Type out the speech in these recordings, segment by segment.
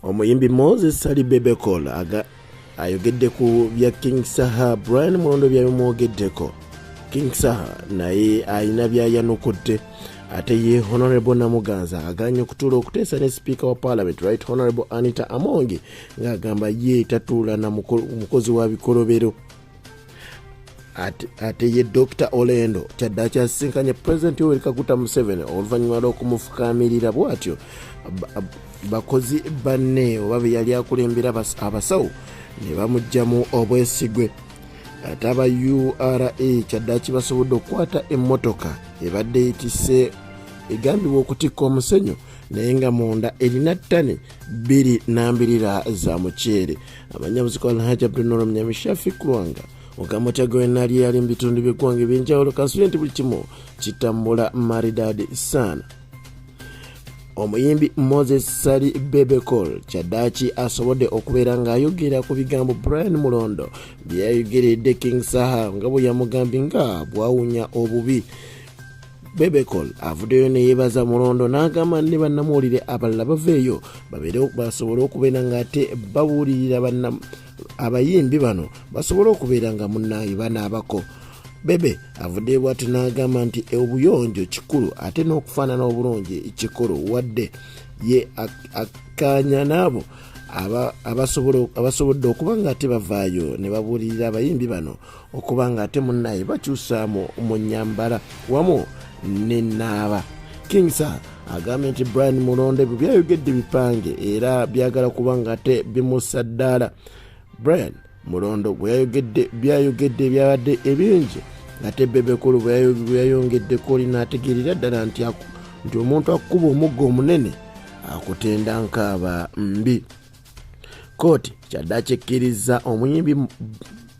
Omuyimbi Moses Sali Bebekol aga ayogedde ku bya King Saha Brian Mulondo byabimwogeddeko. King Saha naye alina byayanukudde ate ye honorable namuganza aganye okutuula okuteesa ne sipiika wa parliament right honorable anita amongi ng'agamba ye tatuula na mukozi wa bikolobero ate ye dr olendo kyadde akyasisinkanye pulezidenti oweri kaguta museveni oluvannyuma lw'okumufukaamirira bw'atyo bakozi banne oba be yali akulembera abasawo ne bamugyamu obwesigwe ate aba ura kyaddaki basobodde okukwata emmotoka ebadde etise egambibwa okutikka omusenyu naye nga munda erina ttani bbiri nambirira za muceere amanyabuziko alhaji abdunoro munyamishafi kulwanga ogamba otya gwenali eyali mu bitundu byeggwanga ebyenjawulo kansubire nti buli kimu kitambula maridadi saana omuyimbi moses sali bebecol kyaddaaki asobodde okubeera ng'ayogera ku bigambo brian mulondo bye yayogeredde king saha nga bwe yamugambye nga bwawunya obubi bebecol avuddeyo neyebaza mulondo n'agamba ne bannamuwulire abalala baveeyo babeere basobole okubeera ng'ate babuulirira abayimbi bano basobole okubeera nga munnaye banaabako bebe avuddeyo bwati n'agamba nti e obuyonjo kikulu ate n'okufaanana obulungi kikulu wadde ye akkaanya n'abo abasobodde okuba ng'ate bavaayo ne babuulirira abayimbi bano okuba nga ate munnaye bakyusaamu mu nyambala wamu nenaaba king sir agambye nti brian mulonde bwe byayogedde bipange era byagala kuba nga ate bimussa ddaala brian mulondo gwe yayogedde byayogedde ebyabadde ebingi ate bebekulu bweyayongeddeko linaategeerera ddala nti nti omuntu akukuba omugga omunene akutenda nkaaba mbi kkooti kyaddaki ekkirizza omuyimbi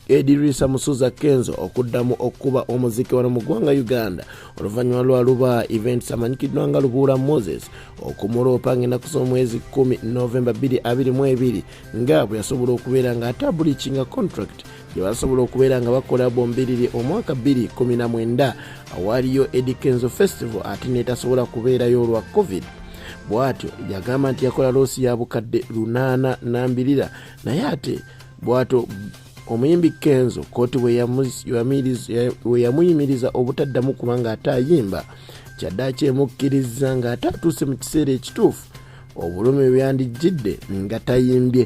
edirisa musuza kenzo okuddamu okukuba omuziki wano mu ggwanga uganda oluvannyuma lwa luba events amanyikiddwa nga lubuula moses okumuloopa ngaenaku z'omwezi 1 novemba 222 nga bwe yasobola okubeera ng'atabulikinga contract gye basobola okubeera nga bakola bombiriri omwaka 219 awaaliyo edi kenzo festival ate netasobola kubeerayo olwa covid bwatyo yagamba nti yakola loosi ya bukadde lunaana nambirira naye ate bwato omuyimbi kenzo kooti weyamuyimiriza obutaddamu kubanga ate ayimba kyaddaaki emukkiriza ng'ate atuuse mu kiseera ekituufu obulumi bweyandijjidde nga tayimbye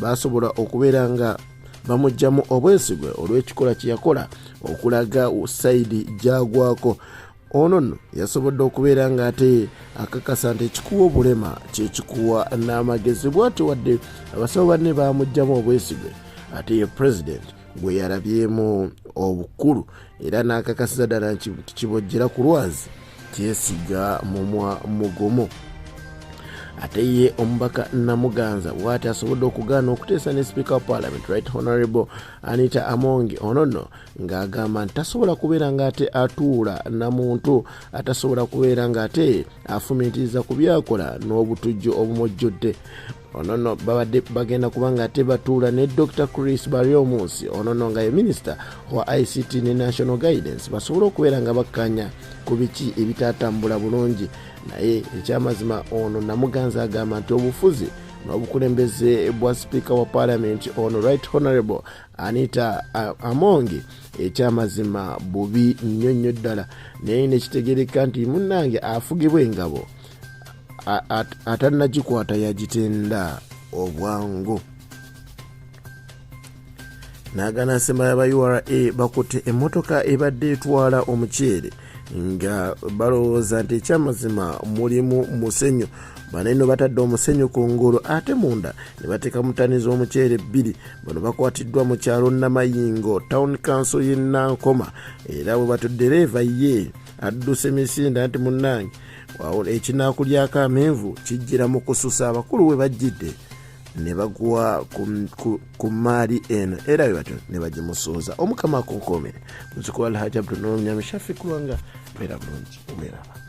baasobola okubeera nga bamugyamu obwesigwe olw'ekikola kye yakola okulaga saidi gyagwako ono nno yasobodde okubeera ng'ate akakasa nti ekikuwa obulema kyekikuwa n'amagezi bwati wadde abasawo banne baamugyamu obwesigwe ate ye pulezidenti gwe yalabyemu obukulu era n'akakasiza ddala nti kibojjera ku lwazi kyesiga mumwa mugumu ate ye omubaka namuganza bwati asobodde okugaana okuteesa ne speaker of parliament right honorable anita amongi ono nno ng'agamba nti tasobola kubeera ng'ate atuula na muntu atasobola kubeera ng'ate afumiitiriza ku byakola n'obutujju obumujjudde ono no babadde bagenda kuba nga ate batuula ne dr chris baryomunsi ono no nga ye minisita wa ict ne national guidance basobole okubeera nga bakkanya ku biki ebitaatambula bulungi naye ekyamazima ono namuganza agamba nti obufuzi n'obukulembeze bwa sipiika wa palamenti ono right honorable anita amongi ekyamazima bubi nnyo nnyo ddala naye nekitegereka nti munnange afugibwa engabo atanagikwata yagitenda obwangu nagana nsemba yaba ura bakutte emmotoka ebadde etwala omuceere nga balowooza nti ekyamazima mulimu musenyu bano eno batadde omusenyu ku ngulu ate munda ne bateeka mutani z'omuceere bbiri bano bakwatiddwa mu kyalo namayingo town council y'e nankoma era bwe batuddereeva ye adduse misinde nti munnange wawula ekinaaku lyako amenvu kijjira mu kususa abakulu we bajjidde ne bagwa ku mmaali eno era bwe batyo ne bagimusuuza omukama akunkuumire muzukulu alhaji abdunulnyamishafi kulwanga beera bulungi weeraba